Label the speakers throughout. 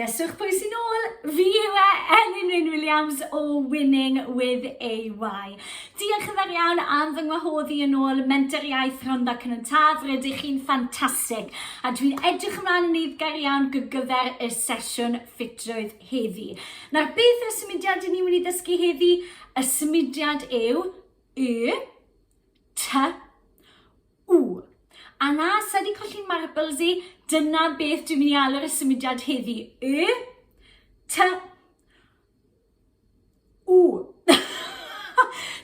Speaker 1: Guesswch pwy sy'n ôl? Fi yw e, Elin Wyn Williams o Winning with AY. Diolch yn fawr iawn am fy ngwahodd i yn ôl Menter Iaith Rhondda Cynon Taf. Rydych chi'n ffantastig a dwi'n edrych ymlaen yn eiddgar iawn gyfer y sesiwn ffitrwydd heddi. Nawr, beth yw'r symudiad i ni wedi ddysgu heddi? Y symudiad yw Y, T, Ww! A na, sa di colli marbles i, dyna beth dwi'n mynd i alw'r y symudiad heddi. Y? Ta... Ww!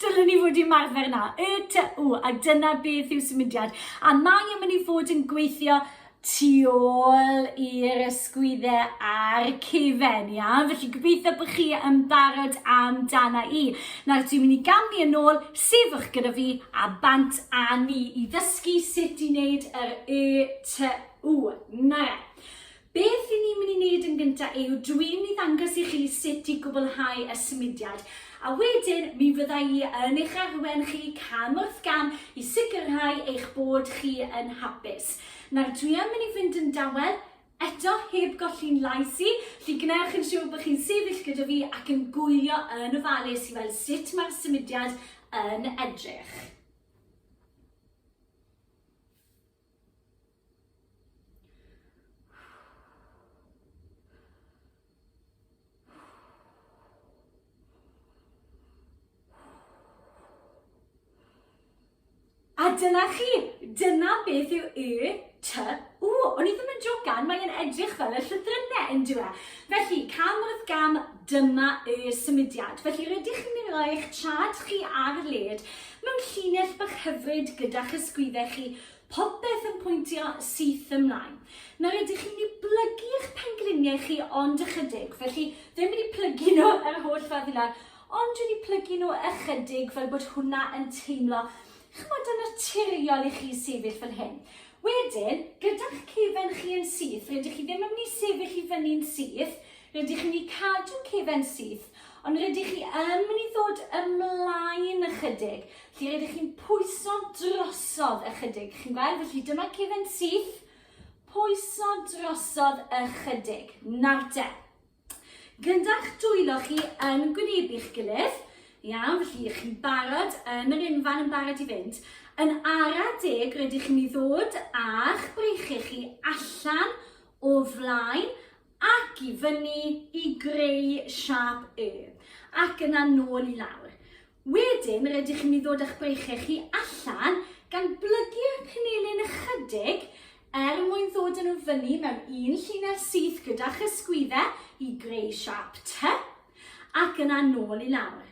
Speaker 1: Dylen ni fod i marfer na. Y ta ww, a dyna beth yw symudiad. A mae yn mynd i fod yn gweithio tu ôl i'r ysgwydde a'r cefen, ia? Felly gobeithio bod chi yn barod am dana i. Nawr, dwi'n mynd i gamni yn ôl, sefwch gyda fi a bant a ni i ddysgu sut i wneud yr y ty u. Na. Beth i ni'n mynd i wneud yn gyntaf yw dwi'n mynd i ddangos i chi sut i gwblhau y symudiad a wedyn mi fydda i yn eich arwen chi cam wrth gam i sicrhau eich bod chi yn hapus. Nawr dwi yn mynd i fynd yn dawel, eto heb golli'n llais i, felly gwnewch yn siŵr bod chi'n sefyll gyda fi ac yn gwylio yn ofalus i weld sut mae'r symudiad yn edrych. A dyna chi, dyna beth yw y ty w. O'n i ddim yn jogan, mae'n edrych fel y llythrynau yn dweud. E? Felly, cam wrth gam, dyma y symudiad. Felly, rydych chi'n mynd eich trad chi ar led mewn llinell bach hyfryd gyda'ch ysgwyddau chi Popeth yn pwyntio syth ymlaen. Nawr ydych chi'n mynd i blygu eich pengliniau chi ond ychydig, felly ddim mynd i plygu nhw yr holl ffordd i lawr, ond dwi'n i plygu nhw ychydig fel bod hwnna yn teimlo chymod yn naturiol i chi sefyll fel hyn. Wedyn, gyda'ch cefen chi yn syth, rydych chi ddim yn mynd i sefyll i fyny'n syth, Rydych chi'n eu cadw cefn syth, ond rydych chi yn mynd i ddod ymlaen ychydig, lle rydych chi'n pwyso drosodd ychydig. Chi'n gweld? Felly dyma cefn syth, pwyso drosodd ychydig. Nawr te, gyda'ch dwylo chi yn gwynebu'ch gilydd, iawn, felly chi'n barod yn yr unfan yn barod i fynd, yn ara deg rydych chi'n mynd i ddod â'ch breichiau chi allan o flaen ac i fyny i greu siâp Y, ac yna nôl i lawr. Wedyn rydych chi'n mynd i ddod â'ch breichiau chi allan, gan blygu'r penelin ychydig er mwyn ddod yn nhw fyny mewn un llinell syth gyda'ch ysgwyddau i greu siâp T, ac yna nôl i lawr.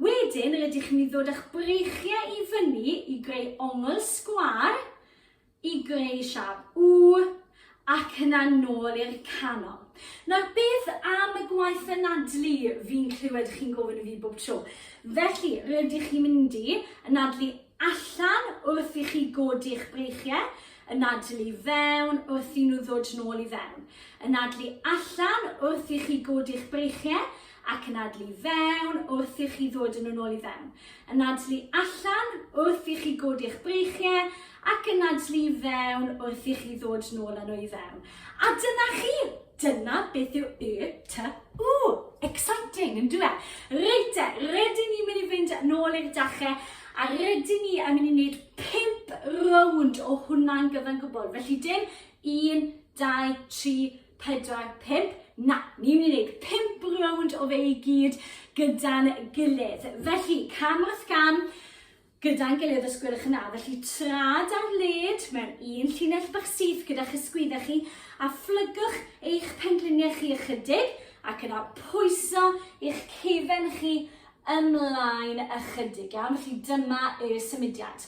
Speaker 1: Wedyn rydych chi'n mynd i ddod â'ch breichiau i fyny i greu ongl sgwâr, i greu siâp U ac yna nôl i'r canol. Nawr beth am y gwaith anadlu fi'n clywed chi'n gofyn i fi bob tro? Felly, rydych chi'n mynd i anadlu allan wrth i chi godi'ch breichiau, anadlu fewn wrth i nhw ddod nôl i fewn. Anadlu allan wrth i chi godi'ch breichiau, ac anadlu i fewn wrth i chi ddod yn ôl i fewn. Anadlu allan wrth i chi godi'ch breichiau ac anadlu i fewn wrth i chi ddod nôl â nhw i fewn. A dyna chi! Dyna beth yw y ty u Exciting, yn dwi? Reit te, rydyn ni'n mynd i fynd nôl i'r dachau a rydyn ni yn mynd i wneud pimp rownd o hwnna'n gyfan gwbl. Felly dim un, dau, tri, 4, 5, na, ni'n mynd i wneud 5 rownd o fe i gyd gyda'n gilydd. Felly, cam wrth gam, gyda'n gilydd os gwelwch yn dda. Felly, trad ar led mewn un llinell bach syth gyda'ch ysgwyddau chi a phlygwch eich pengliniau chi ychydig ac yna pwyso eich cefen chi ymlaen ychydig. Iawn, felly dyma y symudiad.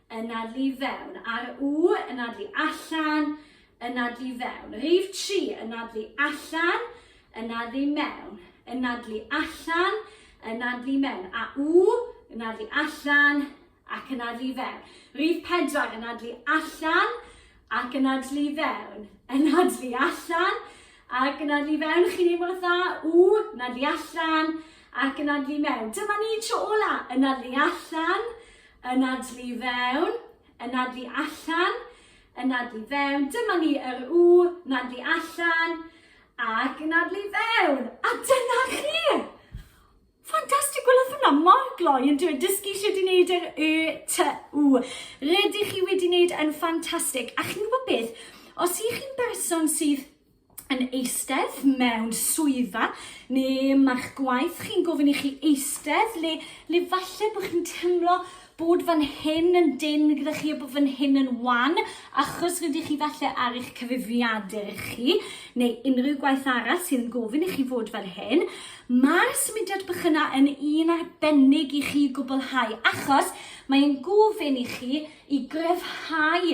Speaker 1: Anadlu i fewn. Ar u, anadlu allan, anadlu i fewn. Rhif tri, anadlu allan, anadlu i mewn. Anadlu allan, anadlu i mewn. A u, anadlu allan, ac anadlu i fewn. Rhif pedwar, anadlu allan, ac anadlu i fewn. Anadlu allan, ac anadlu i fewn. Chi'n ei mor dda. U, anadlu allan, ac anadlu i mewn. Dyma ni tro ola. Anadlu allan, Anadlu i fewn, anadlu allan, anadlu i fewn. Dyma ni yr u, anadlu allan, ac anadlu i fewn. A dyna chi! Ffantastig, gwelwch hwnna, mor gloi yn dweud dysgu sut i wneud yr y, t, u. Rydych chi wedi wneud yn ffantastig. A chi'n gwybod beth? Os i chi'n berson sydd yn eistedd mewn swyddfa neu mae'ch gwaith chi'n gofyn i chi eistedd le, le falle bod chi'n teimlo bod fan hyn yn dyn gyda chi a bod fan hyn yn wan achos rydych chi falle ar eich cyfrifiadur chi neu unrhyw gwaith arall sy'n gofyn i chi fod fel hyn. Mae'r symudiad bych yna yn un arbennig i chi gwblhau achos mae'n gofyn i chi i gryfhau